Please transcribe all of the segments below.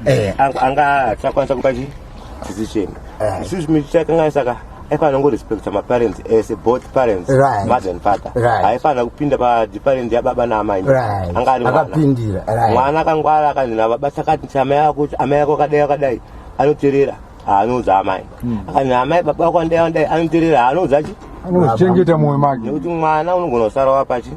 eh. anga chakwanisa kupa chi decision eh. isusu chimiti chakanganisa ka aifanira kungorespecta maparents ese eh, both parents right. mother and father right. aifanira kupinda padiparent yababa naamai right. anga ari mwana akangwara akanzi nababa sakati amai ako akadai akadai anoterera anoudza amai hmm. akanzi amai baba wako andai andai anoterera haanoudza chi anozvichengeta mumwe make nekuti mwana unogona kusara wapachi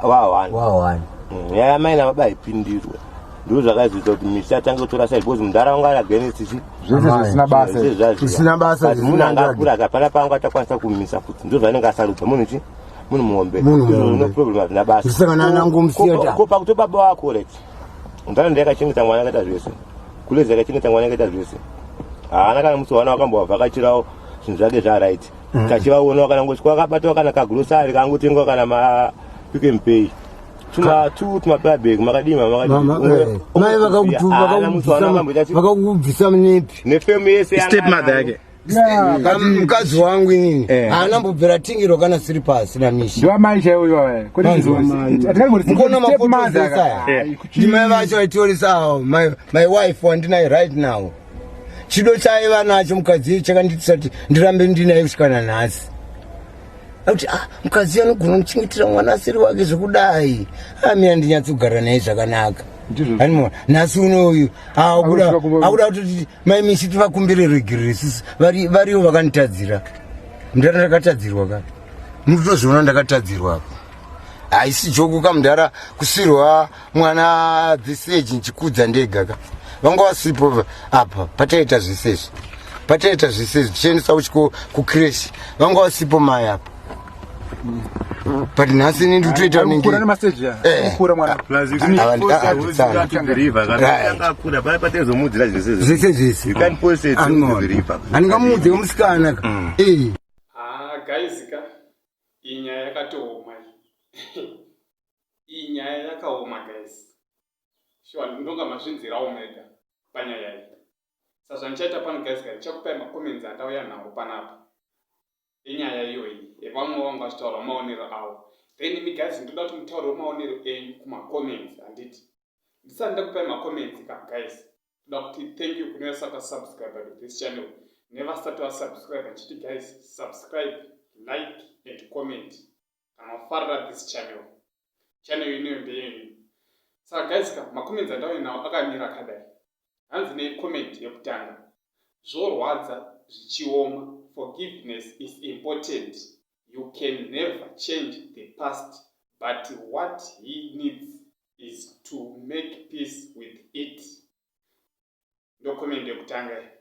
wawani wawani hmm, yaya amai nababa haipindirwe ndizvo zvakazoita kuti misi atange kutora sai because mudhara wanga ari against chi zvese zvisina basa zvisina basa munhu anga akura akapana pangu atakwanisa kumisa futi ndizvo zvainenge asarudza munhu chi munhu muhombe no problem hazvina basa zvisanganana ngomsiya ko pakuto baba wako rek ndana ndiyakachengeta mwana akaita zvese Kule dzake chine tangwana akaita zvese. Haana kana musi wana wakambovhakachirawo zvinhu zvake zva right. Mm. Kachivaona wakana ngoswa akabata wakana ka grocery kangu tengwa kana ma pick and pay. Tuma tu tuma pay bag makadima makadima. Mai vakakutuma vakakubvisa nepi. Ne family yese. Step mother yake. mukadzi wangu inini eh. haana mbobvera tingiro kana siri pasi namishiamai chaioyoatikona makotoesayandimai vacho aitiorisawo my wife wandinaye right now chido chaiva nacho mukadzi chakanditisati ndirambe ndinaye kusvika nanhasi akuti ah, mukadzi anogona kuchengetera mwana asiri wake zvekudai amina ah, ndinyatsogara naye zvakanaka nhasi uno uyu akuda kuti Mai Misi tivakumbire regerere sisi vari variwo vakanditadzira. Mdara ndakatadzirwa ka. Mutozviona ndakatadzirwa apa. Haisi joku ka mdara kusirwa mwana this age nchikudza ndega ka. Vanga vasipo apa pataita zvese izvi. Pataita zvese izvi tichiendesa uchiko ku crash. Vanga vasipo mai apa. but nhasi ini nditoita ningikura nemaseji kukura mwana zvese zvese handingamuudze musikana guys ka iyi nyaya yakatooma iyi nyaya yakaoma guys shuwa ndinonga mazvinzirawo mega panyaya iyi sazvandichaita pano guys ka ndichakupai macomments andauya nawo panapa enyaya iyoyi yevamwe vanga vachitaura maonero avo then imi guys ndoda kuti mutaureo maonero enyu kumacomments handiti ndisati ndakupai macomments ka guys ndoda kuti thank you kune vasati vasubscribe to this channel nevasati vasubscribe ndichiti guys subscribe like and comment kana wafarira this channel channel ineyo ndeyenyu saka guys ka makomenti andauya nawo akamira akadai hanzi necomment yekutanga zvorwadza zvichioma forgiveness is important you can never change the past but what he needs is to make peace with it ndokomende yekutanga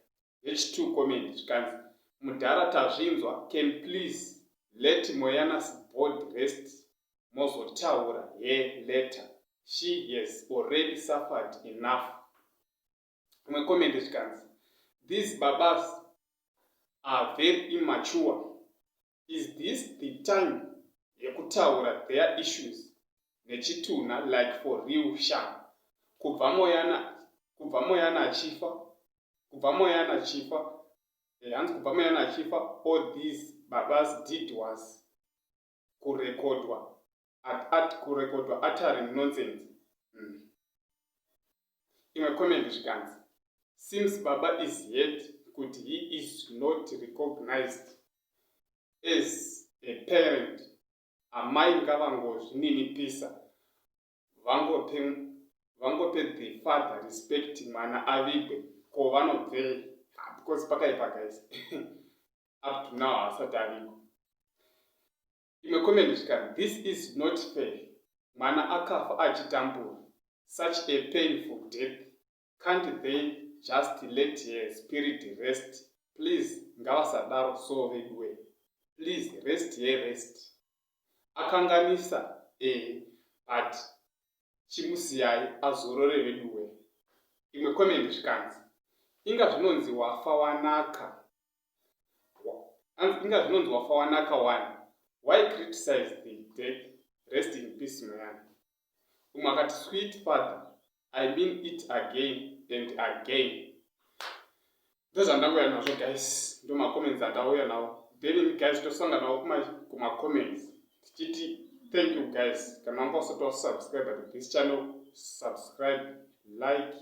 vechitwo comment zvikanzi mudhara tazvinzwa can please let moyanas board rest mozotaura he letter she has already suffered enough imwe comment zvikanzi these babas are very immature is this the time yekutaura their issues nechitunha like for real sham kubva moyana kubva moyana achifa kubva moyana achifa eh, hanzi kubva moyana achifa all these babas did was kurekodwa at at kurekodwa uttering nonsense mm. imwe comment zvikanzi seems baba is yet kuti he is not recognized as a parent amai ngavangozvininipisa vangope vangope the father respect mwana avigwe ko vanobvei ah, because pakaipa guys up to now haasati avigwa Imwe comment zvikanzi this is not fair mwana akafa achitambura such a painful death can't they just let her spirit rest please ngavasadaro so veduwe please rest her rest akanganisa eh but chimusiyai azorore veduwe imwe comment zvikanzi inga zvinonzi wafa wanaka anzi inga zvinonzi wafa wanaka wani why criticize the dead rest in peace muyana umwe akati sweet father i mean it again and again ndozvandauya nazvo guys ndomacomments andauya nawo then guys tosanga nawo kumacomments tichiti thank you guys kana wanga usati wasubscribe to this channel subscribe like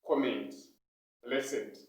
comment blessed